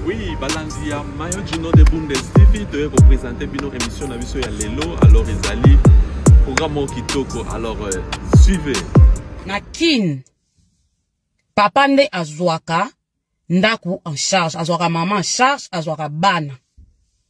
Oui, balandi ya Mayo Gino de Bundes TV toye ko présenter bino émission na biso ya lelo alors ezali programme kitoko alors euh, suivez. Na Kin papa nde azwaka ndaku en charge azwaka maman en charge azwaka bana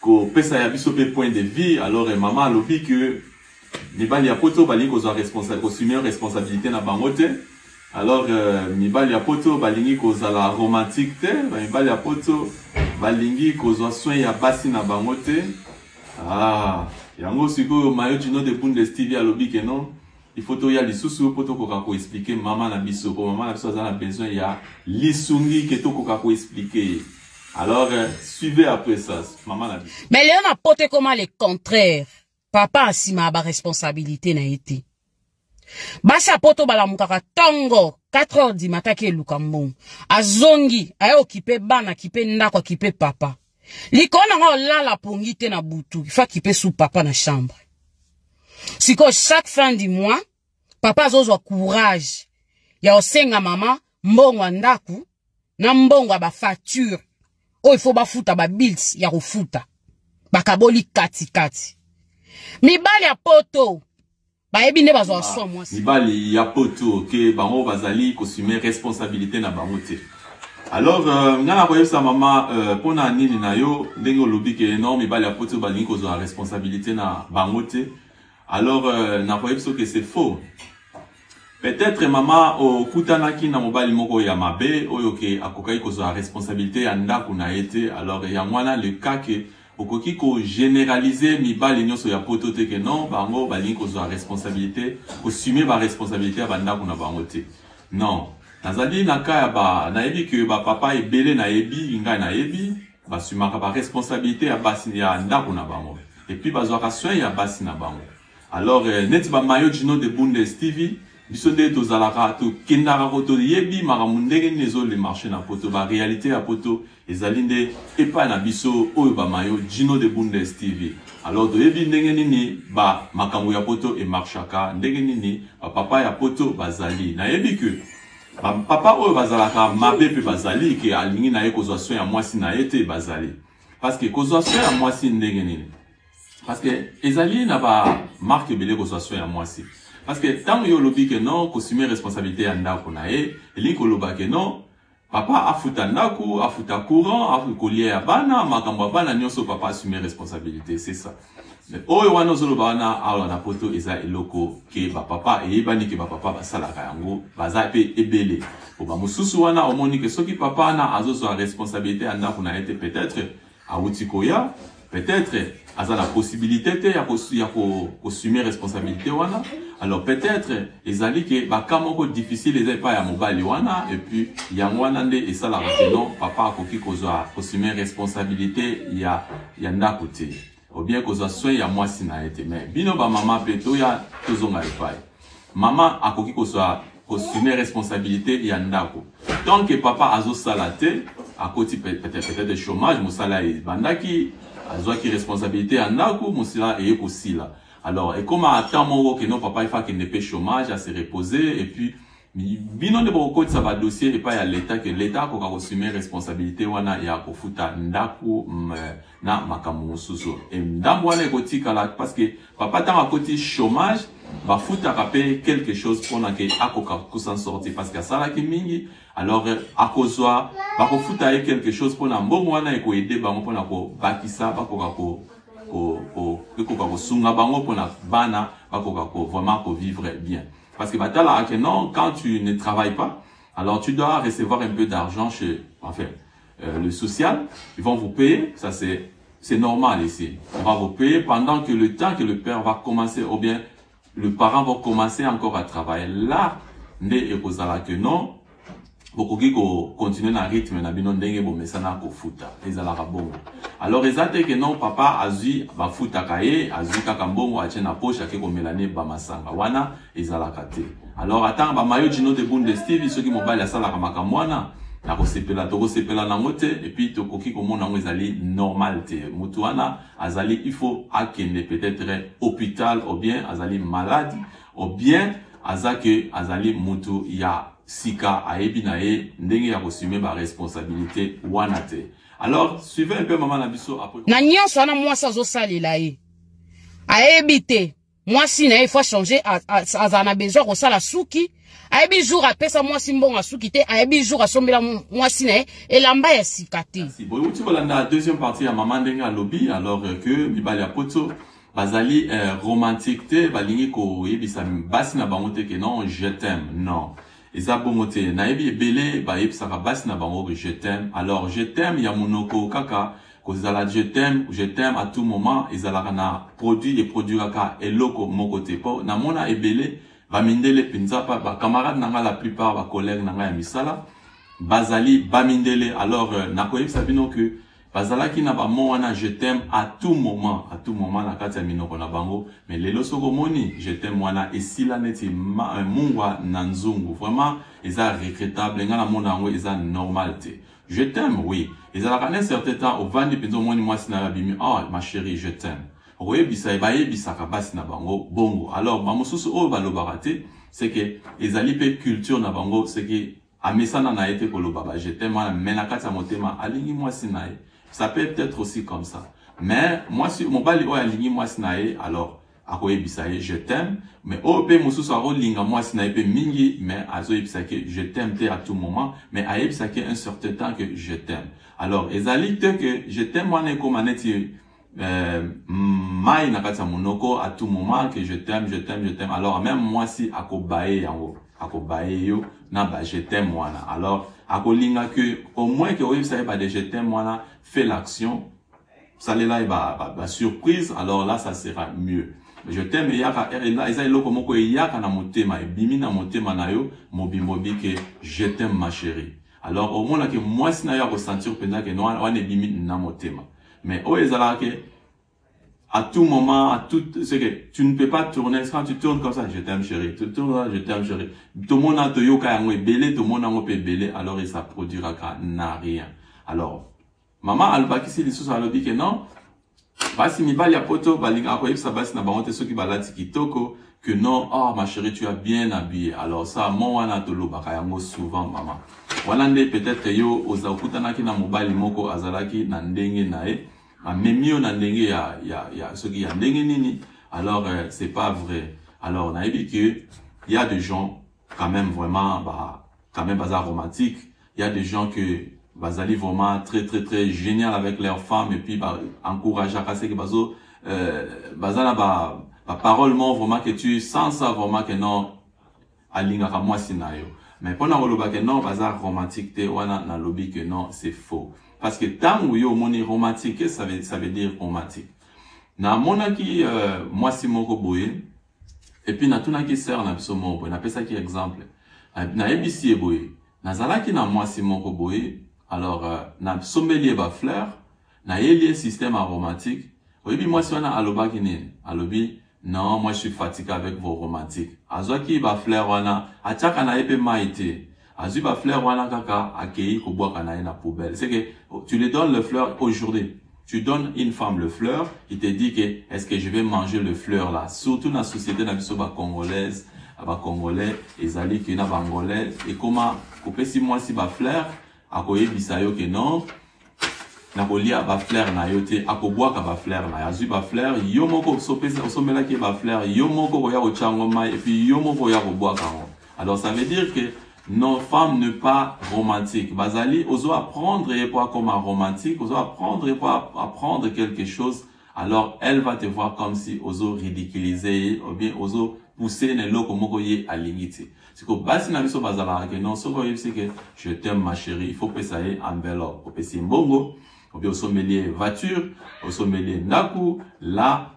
kopesa ya biso mpe point de vie alors eh, mama alobi que mibali ya poto balingi kozwa kosume responsabilité na bango te alors euh, mibali ya poto balingi kozala romantique te mibali ya poto balingi kozwa soin ya basi na bango te ah, yango sikoyo mayo jino de bundes tv alobi ke non il faut toya lisusu mpo tokoka koexplike mama na biso mpo mama na biso aza na besoin ya lisungi ke tokoka koexplike ye alors euh, suivez après ça mama na biso mais leo na poto ekoma le contraire papa asima ya baresponsabilité na ye te basi ya poto balamukaka ntongo 4 heures dimataki eluka mbongo azongi aye okipe bana akipe ndako akipe papa likolo na nga olala pongi te na butu fa kipe su papa na chambre sikoyo chaque fin du mois papa azozwa courage ya osenga mama mbongo ya ndako na mbongo ya bafacture oyo ifo bafuta babils ya kofuta bakaboli katikati mibali ya poto bayebi nde bazwa swa mwasi mibali ya poto oke bango bazali kosume responsabilité na bango te alors euh, ngai nakoyebisa mama euh, mpo na nini na yo ndenge olobi ke non mibali ya poto balingi kozwa responsabilité na bango te alors euh, nakoyebisa oke c'est faux peut-être mama okutanaki na mobali moko ya mabe oyo ke akokaki kozwa responsabilité ya ndako na ye te alors yango wana le cas ke Okoki ko generaliser mibali nyoso ya poto te que non bango balingi kozwa responsabilite kosume ba responsabilite ya bandako na bango te non nazali na ka ya ba nayebi que ba papa ebele nayebi ngai nayebi basumaka ba responsabilite ya basi ya ndako na bango epuis bazwaka soin ya basi na bango alors euh, neti ba mayo jino de bundes tv biso nde tozalaka tokendaka ko toyebi makambo ndenge nini ezole marché na poto ba réalité ya poto ezali nde epai na biso oyo ba mayo jino de bundes tv alors toyebi ndenge nini ba makambo ya poto emarchaka ndenge nini bapapa ya poto bazali nayebi ke bapapa oyo bazalaka mabe mpe bazali ke alingi na ye kozwa soin ya mwasi na ye te bazali parce que kozwa soin ya mwasi ndenge nini parce que ezali na ba marque ebele kozwa soin ya mwasi parce que ntango yo olobi ke non kosume responsabilité ya ndako na ye elingi koloba ke non papa afuta ndako afuta courant kolia ya bana makambo ya bana nyonso papa asume responsabilité c'est ça mais oyo wana ozoloba wana awa na poto eza eloko ke bapapa eyebani ke bapapa basalaka yango baza mpe ebele po bamosusu wana omoni ke soki papa wana azozwa responsabilité ya ndako na ye te peut-être awuti koya peut-être aza na possibilité te ya ko ya ko assumer responsabilité wana alors peut-être ezali ke baka moko difficile eza epai ya mobali wana et puis yango wana nde esalaka ke non papa akoki kozwa assumer responsabilité ya ya ndako te ou bien kozwa soin ya mwasi na ye te mais bino bamama mpe toya tozonga epai Maman akoki kozwa kosume responsabilite ya ndako tant que papa azosala te akoti peut-être chômage mosala ebandaki azwaki responsabilite ya ndako mosala eye kosila alors ekoma ata moko keno papa efa akende mpe chômage ase reposer et puis bino nde bokokotisa badossier epai ya leta ke leta akoka kosume responsabilite wana ya kofuta ndako na makambo mosusu ndambo wana ekotikala parce que Papa tango akoti chômage bafutaka pe quelque chose pona ke akoka kokusa sorti parce que asalaki mingi alors euh, akozwa bakofuta ye quelque chose pona mbongo wana ekoede bango pona kobakisa bakoka ko ekoka kosunga bango pona bana bakoka ko vraiment kovivre bien parce que batalaka ke non quand tu ne travailles pas alors tu dois recevoir un peu d'argent chez enfin euh, le social, ils vont vous payer, ça c'est c'est normal ici. On va vous payer pendant que le temps que le père va commencer, ou bien le parent va commencer encore à travailler. Là, nde ekozala que non, bokoki continuer na rythme na bino ndenge bomesana kofuta ezalaka bongo alors eza te que non papa azwi bafutaka ye azwi kaka mbongo atie na poche ake komela ne bamasanga wana ezalaka te alors atanga ba mayo jino de bunde steve soki mobali asalaka makambo wana nakosepela tokosepela nango te epuis tokoki komona yango ezali normal te motu wana azali il faut akende peut-être hôpital ou bien azali malade ou bien aza ke azali motu ya sika ayebi na ye ndenge ya kosume baresponsabilité wana te alors suivez un peu mama na biso après na nyonso wana mwasi azosalela ye ayebi te mwasi na ye faut changer azala na besoin kosala suki ayebi jour apesa mwasi mbongo ya suki te ayebi jour asombela mwasi na ye elamba ya sika te boyeuti kolanda deuxième partie ya mama ndenge alobi alors euh, que mibali ya poto bazali euh, romantique te balingi koyebisa basi na bango te ke non je t'aime non Eza bongo te nayebi ebele bayebisaka basi na bango que je t'aime alors je t'aime ya munoko kaka kozala je t'aime je t'aime à tout moment ezalaka na produit e produiraka eloko moko te po namona ebele ba mindele penza pa ba camarade na nga la plupart ba collègue na nga ya misala bazali ba mindele alors nakoyebisa bino que Bazalaki na ba mots wana je t'aime à tout moment, à tout moment na kati ya minoko na bango. Mais lelo soko moni je t'aime wana esila neti euh, mungwa na nzungu. Vraiment eza regrettable, nga na mona yango eza normal te. Je t'aime oui. Ezalaka na certain temps ovandi penza omoni mwasi na yo abimi, oh ma chérie je t'aime. Okoyebisa ye bayebisaka basi na bango bongo. Alors ba mosusu oyo balobaka te, c'est que ezali pe culture na bango, c'est que Amesana na ye te koloba ba je t'aime wana mais na kati ya motema alingi mwasi na ye. Ça peut peut-être aussi comme ça. Mais mwasi mobali oyo alingi mwasi na ye alors akoyebisa ye je t'aime mais oyo mpe mosusu akolinga mwasi na ye mpe mingi mais azoyebisa ke je t'aime te à tout moment mais ayebisa ke un certain temps que je t'aime alors ezali te que je t'aime wana ekoma neti euh, mai na kati ya monoko à tout moment que je t'aime je t'aime je t'aime alors même mwasi akobaye yango akobaye yo na ba je t'aime wana alors akolinga que au moins que oyebisa ye ba de je t'aime wana fait l'action salela ye ba, ba, ba surprise alors là ça sera mieux je t'aime eyaka eza eloko moko eyaka na motema ebimi na motema na yo mobimbo bi que je t'aime ma chérie alors omonaki mwasi na yo akosentir mpenza ke wana ebimi na motema Mais oyo ezalaka ke à tout moment, à tout, c'est que tu ne peux pas tourner, quand tu tournes comme ça, je t'aime chérie, tu tournes là, je t'aime chérie. Tout le monde a tout yoka yango belé, tout le monde a ngopé belé, alors il ça produira qu'à n'a rien. Alors, maman albakisi lissus a lobi que non, basi mibali ya poto, balinga ko yebisa basi na bango te soki balati kitoko, que non oh ma chérie tu as bien habillé alors ça mon wana tolobaka yango souvent mama wana nde peut-être yo oza okutanaki na mobali moko azalaki na ndenge na ye amemi yo na ndenge ya, ya, ya soki ya ndenge nini alors euh, c'est pas vrai alors nayebi que y a des gens quand même vraiment ba quand même baza romantique il y a des gens que bazali vraiment très très très génial avec leurs femmes et puis ba encourageaka seke bazo euh, baza na ba ba parole moko vraiment que tu sens ça vraiment que non alingaka mwasi na yo mais mpo na koloba que non baza romantique te wana nalobi que non c'est faux parce que ntango yo omoni romantique ça veut, ça veut dire romantique namonaki euh, mwasi moko boye Et puis natunaki sœur na biso moko boye, napesaki exemple. Nayebisi ye boye, nazalaki na mwasi moko boye, alors euh, nasombeli ye ba fleurs, nayeli ye système aromatique. Oyebi mwasi wana alobaki nini? Alobi non, moi je suis fatigué avec vos romantiques. Azwaki ba fleurs wana, atiaka na ye pe mai te. azwi ba fleur wana kaka akeyi kobwaka na ye na poubelle c'est que tu le donnes le fleur aujourd'hui tu donnes une femme le fleur il te dit que est-ce que je vais manger le fleur là surtout na société na biso ba congolaise ba congolais ezali que na bangolais ekoma kopesi mwasi ba fleur akoyebisa yo que non nakolia bafleur na yo te akobwaka bafleur na yo azwi bafleur yo moko osombelaki ye bafleur yo moko koya kotya yango mai epuis yo moko oya kobwaka yango alors ça veut dire que nos femmes ne pas romantique bazali ozo apprendre ye mpo akoma romantique ozo apprendre ye mpo apprendre quelque chose alors elle va te voir comme si ozo ridiculiser ye ou bien ozo pousser na eloko moko ye alingi te siko basi na biso bazalaka ke non soki oyebisi ke je t'aime ma chérie il faut pesa ye enveloppe opesi ye mbongo ou bien osombeli ye voiture osombeli ye ndaku la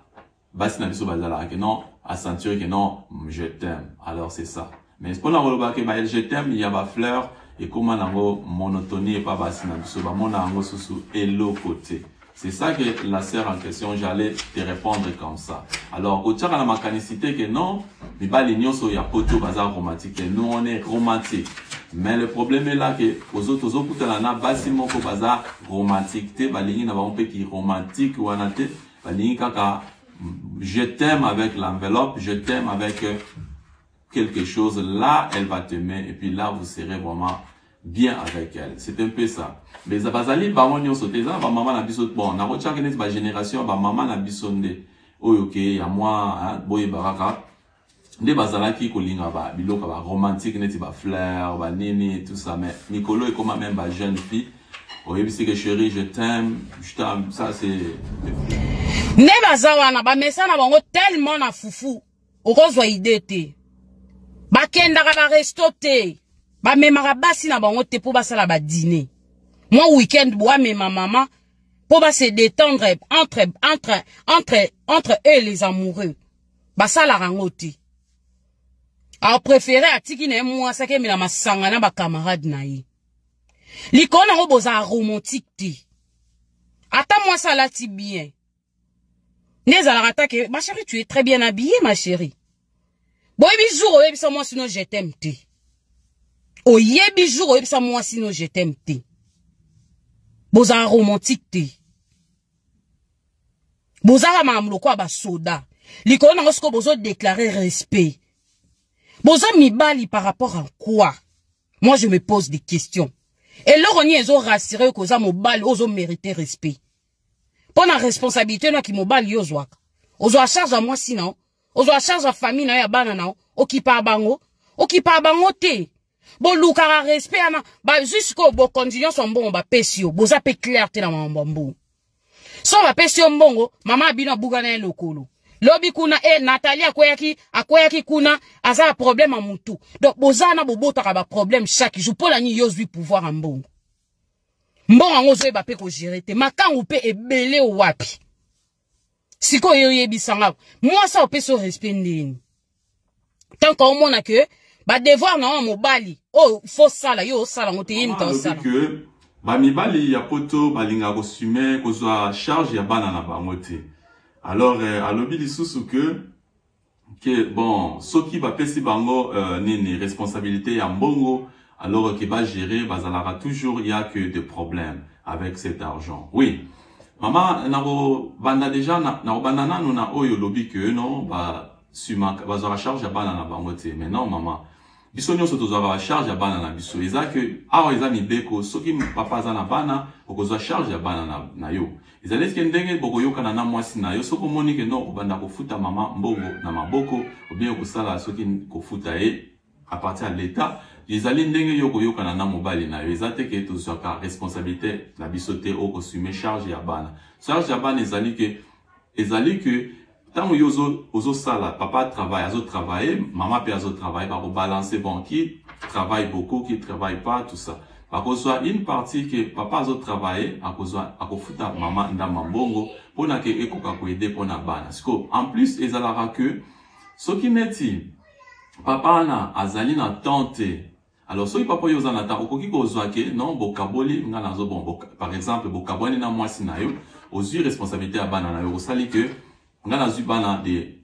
basi na biso bazalaka ke non asentire ke non je t'aime alors c'est ça Mais pona koloba ke ba je t'aime ya ba fleurs ekoma nango monotonie epa basi na biso bamona yango susu eloko te c'est ça que la sœur en question j'allais te répondre comme ça alors kotiaka na makanisi te que non mibali nyonso ya poto baza romantique te nous on est romantique mais le problème est là que ozo tozokutana na basi moko baza romantique te balingi na bango mpe ki romantique wana te balingi kaka je t'aime avec l'enveloppe je t'aime avec euh, quelque chose, là, elle va t'aimer, et puis là, vous serez vraiment bien avec elle. C'est un peu ça. Mais ça bazali bango nyoso te, ça ba maman na biso bon, na rocha kenet ba génération ba maman na biso nde. Oyo ke ya moi, hein, boye baraka. Nde bazalaki kolinga ba biloka ba romantique neti ba fleurs, ba nini tout ça mais Nicolo est comme même ba jeune fille. Oyebisi que chérie, je t'aime, je t'aime, ça c'est nde baza wana bamesana bango tellement na fufu okozwa idee te bakendaka baresto te bamemaka basi na bango te mpo basala badine mwa weekend boamema mama mpo base détendre entre, entre, entre, entre eux les amoureux basalaka yango te apréféré atiki na ye mwasi akemela masanga na bacamarade na ye likolo na yango bozala romantique te ata mwasi alati bien nde ezalaka ta ke ma chérie tu es très bien habillée ma chérie boyebi jour oyebisa mwasi no je t'aime te oyebi jour oyebisa mwasi no je t'aime te bozala romantique te bozala makambo lokola basoda likolo nango sikoyo bozodeklare respect boza mibali par rapport à quoi moi je me pose des questions eloko nini ezorassure yo koza mobali ozomerite respect mpo na responsabilité na kimobali yo ozwaka ozwa charge ya mwasi na yo ozwa charge ya famille na yo ya bana na yo okipaa bango okipaa bango te bolukaka respect wana bazwi sikoyo bokonzi nyonso mbongo bapesi yo boza mpe claire te na mambo ya mbongo so bapesi yo mbongo mama ya bino abuka na ye lokolo lobi kuna e eh, natali akweyaki akweyaki kuna aza na problème ya motu donc boza na bobotaka baproblème chaque jour mpo na nini yo ozwi pouvoir ya mbongo mbongo yango ozoyeba mpe kogere te makangu mpe ebele wapi sikoyo oyebisa nga mwasi ayo opesi respect ndeni tant que omona que badevoir na yo mobali oyo oh, fo sala yo osala yango te ye moto osala bamibali ya poto balingaka kosume kozwa charge ya bana na bango te alors euh, alobi lisusu que que bon soki bapesi bango euh, nini responsabilité ya mbongo alors que ba gérer bazalaka toujours ya que des problèmes avec cet argent oui mama nakobanda déjà nakobanda nanu na oyo olobi que non ba sumaka bazwaka charge ya bana na bango te mais non mama biso nyonso tozwaka bacharge ya bana na biso eza ke awa eza mibeko soki papa aza na bana okozwa charge ya bana na, na yo ezali etike ndenge bokoyokana na mwasi na yo soki omoni ke no okobanda kofuta mama mbongo na maboko obie okosala soki kofuta ye apartir ya leta ezali ndenge yo okoyokana na mobali na yo eza te ke tozwaka responsabilité na biso te okosume charge ya bana charge ya bana ezali ke ezali ke Tango yo ozo ozo sala papa travail azo travailler maman pe azo travailler bako balancer bon qui travaille beaucoup qui travaille pas tout ça bakozwa une partie que papa azo travailler akozwa akofuta maman ndamba mbongo pona ke ekoka ko aider pona bana siko en plus ezalaka que soki neti papa wana azali na temps te Alors soki papa yo oza na temps okoki kozwa ke non bokaboli nga nazo bon boka, par exemple bokabwani na mwasi na yo ozwi responsabilité ya bana na yo osali ke nga nazwi bana de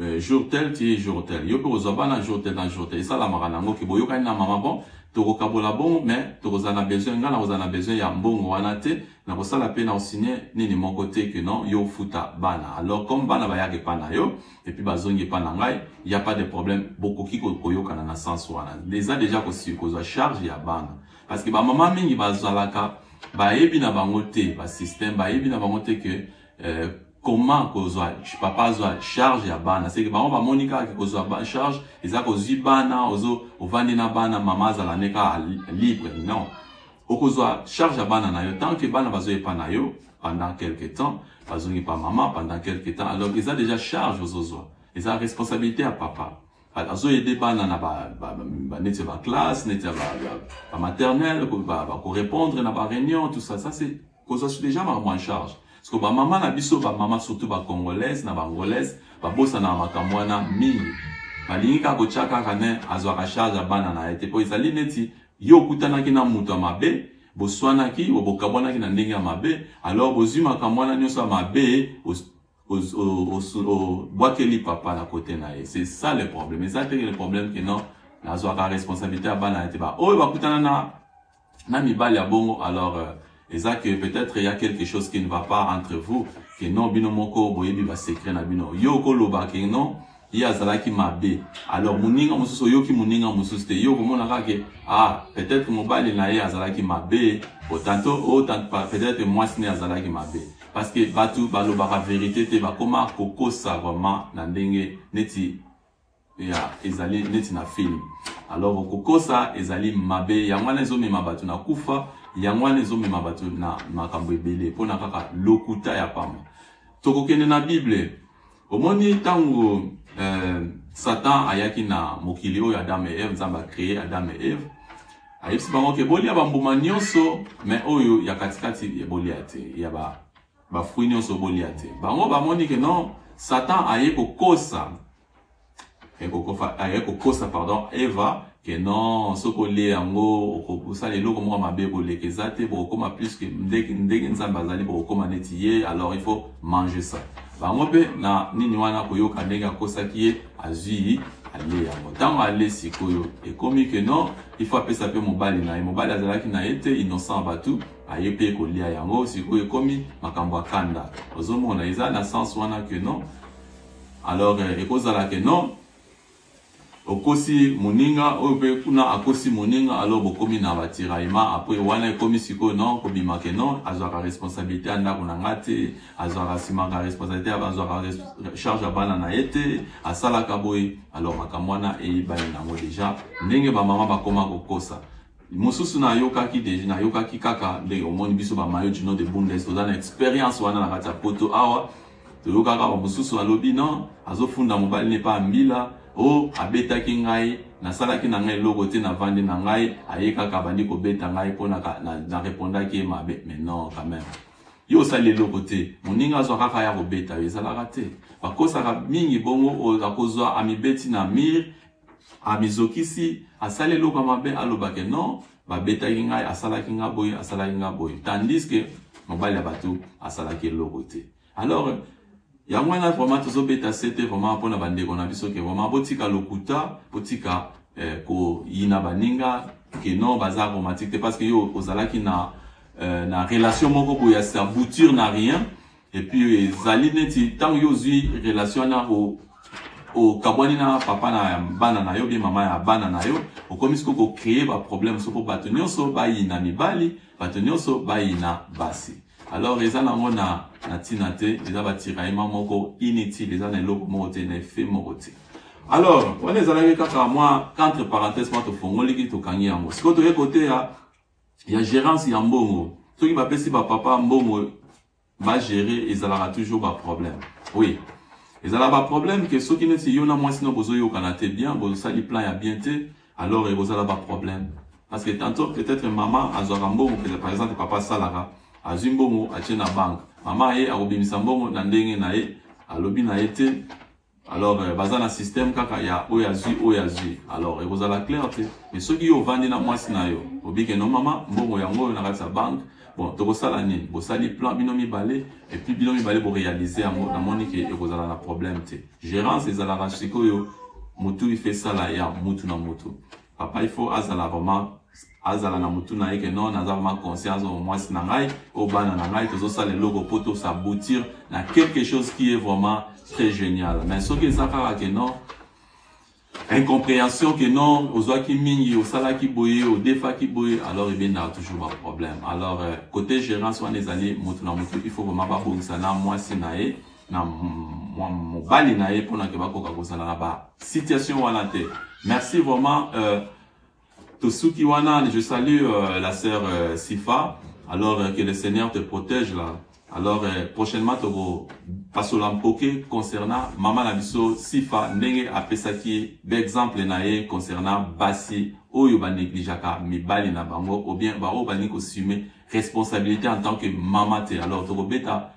euh, jour tel ti jour tel yo mpe kozwa bana jour tel na jour tel esalamaka na yango ke boyokani na mama bon tokokabola bongo mais tokozala na besoin ngai nakozala na besoin ya mbongo wana te nakosala mpe nakosigne nini moko te ke non yo ofuta bana alors comme bana bayaka epa na yo et puis bazongi epa na ngai il y a pas de problème bokoki koyokana na sens wana eza deja kozwa charge ya bana parce que bamama mingi bazalaka bayebi na bango te basystème bayebi na bango te ke euh, comment kozwa papa azwa charge ya bana seke bango bamoni kaka kozwa charge eza kozwi bana ozo ovandi na bana mama azala ne kaka libre non Okozwa charge ya bana na yo tant que bana bazo epa na yo pendant quelque temps, bazongi pa maman pendant quelque temps. Alors eza déjà charge ozozwa. Eza responsabilité ya papa. Azo aider bana na ba, ba, ba, ba neti ba classe, neti ba, ba, ba maternelle, ba, ba, ba ko répondre na ba réunion, tout ça. Ça c'est kozwa soudejama makambo en charge siko bamama na biso bamama surtout bacongolaise na baangolaise babosanaka makambo wana mingi balingi kaka kotya kaka ne azwaka charge ya bana na ye te mpo ezali neti ye okutanaki na moto ya mabe boswanaki bokabwanaki na ndenge ya mabe alors bozwi makambo wana nyonso ya mabe obwakeli papa na kote na ye c'est ça le problème eza te le problème que non nazwaka responsabilité ya bana na ye te baoyo bakutana na na mibali ya bongo alors euh, eza que peut-être il y a quelque chose qui ne va pas entre vous que non bino moko boyebi ba secret na bino yo okoloba que non ye azalaki mabe alors moninga mosusu oyoki moninga mosusu te ye okomona kaka ke ah peut-être mobali na ye azalaki mabe tanto o oh, peut-être mwasi na ye azalaki mabe parce que bato balobaka verité te bakoma kokosa vraiment na ndenge neti ya ezali neti na film alors kokosa ezali mabe yango wana ezomema bato na kufa yango wana ezomema bato na makambo ebele mpo na kaka lokuta ya pamba tokokende na bible omoni ntango euh, satan ayaki na mokili oyo adam e eve nzambe acree adam e eve ayebisi bango ke bolia bambuma nyonso me oyo ya katikati bolia te ya bafrui ba nyonso bolia te bango bamoni ke non satan aye kokosa aye kokofa aye kokosa pardon eva ke non soki olie yango okosala eloko moko mabe koleka eza te bokokoma plus ke ndenge ndenge nzambe azali bokokoma neti ye alors il faut manger ça bango mpe na nini wana koyoka ndenge akosaki ye azwi alie yango ntango ale sikoyo ekomi ke non il faut apesa mpe mobali na ye mobali azalaki na ye te innocent bato aye mpe kolia yango sikoyo ekomi makambo ya kanda ozomona eza na sens wana ke non Alors euh, ekozala que non okosi moninga oyo mpe kuna akosi moninga alo bokomi na batiraillement apres wana ekomi sikoyo non kobima ke non azwaka responsabilité ya ndako na ngai te azwaka simaka responsabilité azwaka charge ya bana na ye te asalaka boye alors makambo wana eyebani nango deja ndenge bamama bakoma kokosa mosusu nayokaki deja nayokaki kaka ndenge omoni biso bamayo jino de bundes toza na experience wana na kati ya poto awa toyokaka bamosusu alobi non azofunda mobali ne pa mbila o oh, abetaki ngai nasalaki na ngai eloko te navandi na ngai aye kaka abandi kobeta ngai mpo narepondaki ye mabe mais non quand même yo osali eloko te moninga azwa kaka ya kobeta yo ezalaka te bakosaka mingi bongo oyo akozwa amibeti na mire amizokisi asali eloko mabe alobake non babetaki ngai asalaki ngai boye asalaki ngai boye tandis que mobali ya bato asalaki eloko te alors yango wana vraiment tozobeta sete vraiment mpo na bandeko na biso ke vraiment botika lokuta botika eh, koyina baninga ke non baza aromatique te parce que yo ozalaki na, eh, na relation moko boye ya sabuture na rien et puis ezali neti ntango yo ozwi relation wana okabwani na papa na bana na yo bie mama ya bana na yo okomi sikoyo kocreye baproblème so mpo bato nyonso bayina mibali bato nyonso bayina basi alors eza nango na na ntina te eza batiraillement moko inutile eza na eloko moko te na effet moko te alors wana ezalaki kaka mwa entre parenthèse mwa tofongoliki tokangi yango sikoyo toye koteya ya gérance ya mbongo soki bapesi bapapa mbongo ba gérer ezalaka toujours ba problème oui ezala ba problème que soki neti yo na mwasi no bozoyokana te bien bozosali plan ya bien te alors ekozala ba problème parce que tantôt peut-être mama azwaka mbongo peut par exemple papa asalaka azwi mbongo atie na banque mama ye akobimisa mbongo na ndenge na ye alobi na ye te alors euh, baza na système kaka ya oyo azwi oyo azwi alors ekozala clair te mais soki yo ovandi na mwasi na yo obike no mama mbongo yango oyo na kati ya banke bon tokosala nini bosali plan bino mibale epuis bino mibale borealize yango namoni ke ekozala na problème te gérance ezalaka sikoyo motu ife esala ya mutu na mutu papa il faut azala vraiment azala na mutu na ye ke non naza vraiment conscience oyo mwasi na ngai oyo bana na ngai tozosala eloko mpo tosaboutir na quelque chose qui est vraiment très génial mais soki eza kaka ke non incomprehension que non ozwaki mingi osalaki boye odefaki boye alors ebendaka toujours baproblème alors euh, côté gérance wana ezali motu na motu il faut vraiment babongisa na mwasi na ye na mobali na ye mpona ke bakoka kozala na ba situation wana te merci vraiment euh, tosuki wana je salue euh, la sœur euh, sifa alors euh, que le seigneur te protège là alors euh, prochainement toko pasola mpoke concernant mama na biso sifa ndenge apesaki baexemple na ye concernant basi oyo banegligeaka mibali na bango ou bien baoyo balingi kosume responsabilité en tant que mama te alors tokobeta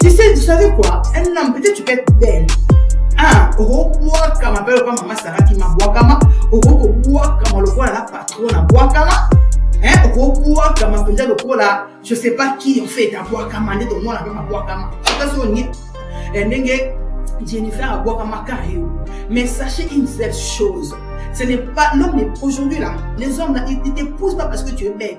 Tu sais, tu savais quoi Un homme, peut-être tu peux être belle. Hein, okobwakama mpe lokola mama saraki mabwakama okoki kobwakama lokola na patron na bwakama okobwakama mpenza lokola je sais pas qui en fait abwakama nde tomona mpe mabwakama ata soki olingi eh, ndenge jennifer abwakama kaka yo mais sachez une seule chose ce n'est pas l'homme aujourd'hui là les hommes là ils te poussent pas parce que tu es belle